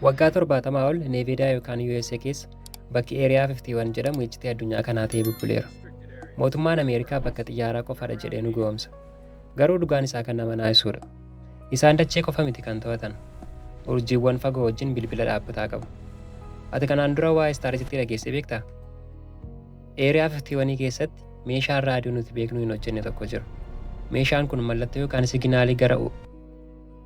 Waggaa 70 ol Neeveedaa yookaan USA keessa bakki Eeriyaa 51 jedhamu iccitii addunyaa kanaa ta'ee bubbuleera. Mootummaan Ameerikaa bakka xiyyaaraa qofadha jedhee nu gowomsa. Garuu dhugaan isaa kan nama naasisuudha. Isaan dachee qofa miti kan to'atan. Urjiiwwan fagoo wajjin bilbila dhaabbataa qabu. Ati kanaan dura waa'ee istaarisitti dhageessee beektaa? Eeriyaa 51 keessatti meeshaan raadiyoo nuti beeknu hin hojjenne tokko jira. Meeshaan kun mallattoo yookaan siginaalii gara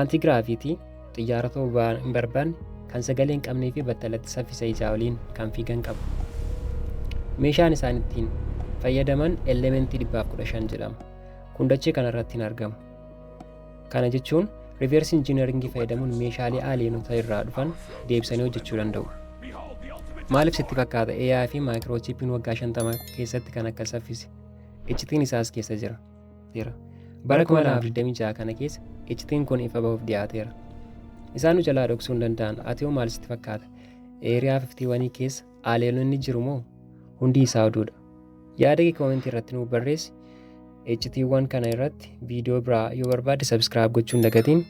Antigraaviitii xiyyaara ta'uu boba'aa hin barbaanne kan sagalee hin qabnee fi battalatti saffisa isaa oliin kan fiigan qabu. Meeshaan isaan ittiin fayyadaman elementii 115 jedhama. Kun dachee kanarratti hin argamu. Kana jechuun riiversi injiinaringii fayyadamuun meeshaalee aaleenota irraa dhufan deebisanii hojjechuu danda'u. Maaliif sitti fakkaata AI fi maayikiroochiipiin waggaa 50 keessatti kan akka saffise? Iccitiin isaas keessa jira. jira. Bara 2026 kana keessa iccitiin kun ifa bahuuf dhiyaateera. Isaan nu jalaa dhoksuu hin danda'an. Ati hoo maal sitti fakkaata? Eeriyaa 51 keessa aleelonni jiru moo? Hundi isaa oduudha. Yaada kee koomentii irratti nuuf barreessi. Iccitiiwwan kana irratti viidiyoo biraa yoo barbaadde sabiskiraayib gochuun dagatiin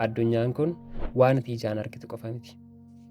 addunyaan kun waan ati ijaan argitu qofa miti.